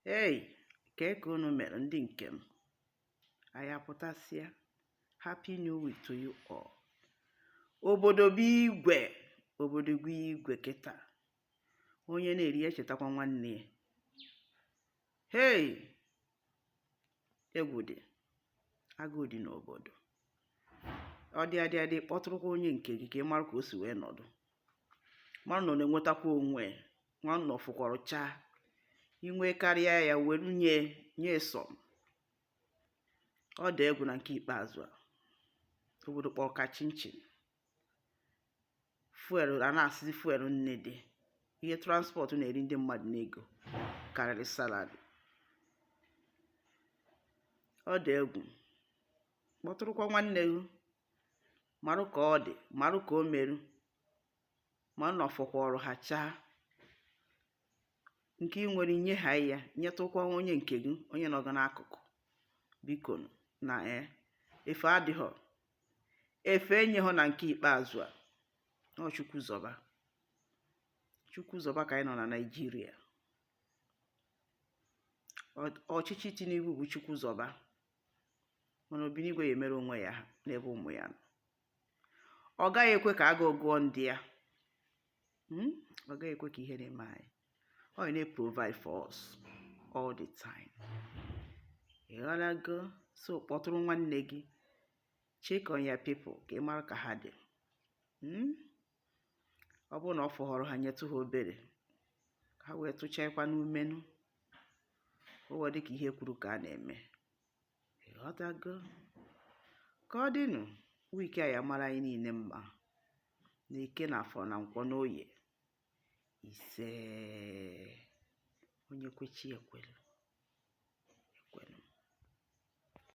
Hey, kee ka unu mere ndị nke m anyị apụtasịa happy new week to you all obodo bụ igwe obodo bụ igwe kịta onye na-eri ya echetakwa nwanne ya hey egwu dị agụụ dị n'obodo ọ dị adị adị kpọtụrụkwa onye nke gị ka ị marụ ka o si wee nọdụ marụ na ọ na-enwetakwa onwe ya nwanna ọ fọkwọrọ chaa i nwee karịa ya were nye nye sọ ọ dị egwu na nke ikpeazụ a obodo kpọrọ ka chinchin fuel a na-asịzi fuel nne dị ihe transport na-eri ndị mmadụ n'ego karịrị salary ọ dị egwu kpọtụrụkwa nwanne gị marụ ka ọ dị marụ ka o meru mana ọ fọkwọrọ ha chaa nke ị nwere nye ha ya nyetụkwa onye nke gị onye nọ gị n'akụkụ bikonụ na e efe adịghọ efe enyeghọ na nke ikpeazụ a na ọ chukwu zọba chukwu zọba ka anyị nọ na naijiria Ọ- ọchịchị tinubu bụ chukwu zọba mana obinigwe ya-emere onwe ya aha n'ebe ụmụ ya nọ ọ gaghị ekwe ka agụụ gụọ ndị ya hmm? ọ gaghị ekwe ka ihe na-eme anyị ọ na-eprovide for us all the time ị ghọtago so kpọtụrụ nwanne gị check on your people ka ị mara ka ha dị hmm? ọ bụrụ na ọ fọhọrọ ha nyetụ ha obere ka ha wee tụchaakwa n'ime ọnụ o wee dị ka ihe e kwuru ka a na-eme ị ghọtago ka ọ dịnụ week a ya-amara anyị niine mma na eke na afọ na nkwọ n'oye ise onye kwe chi ya ekwelu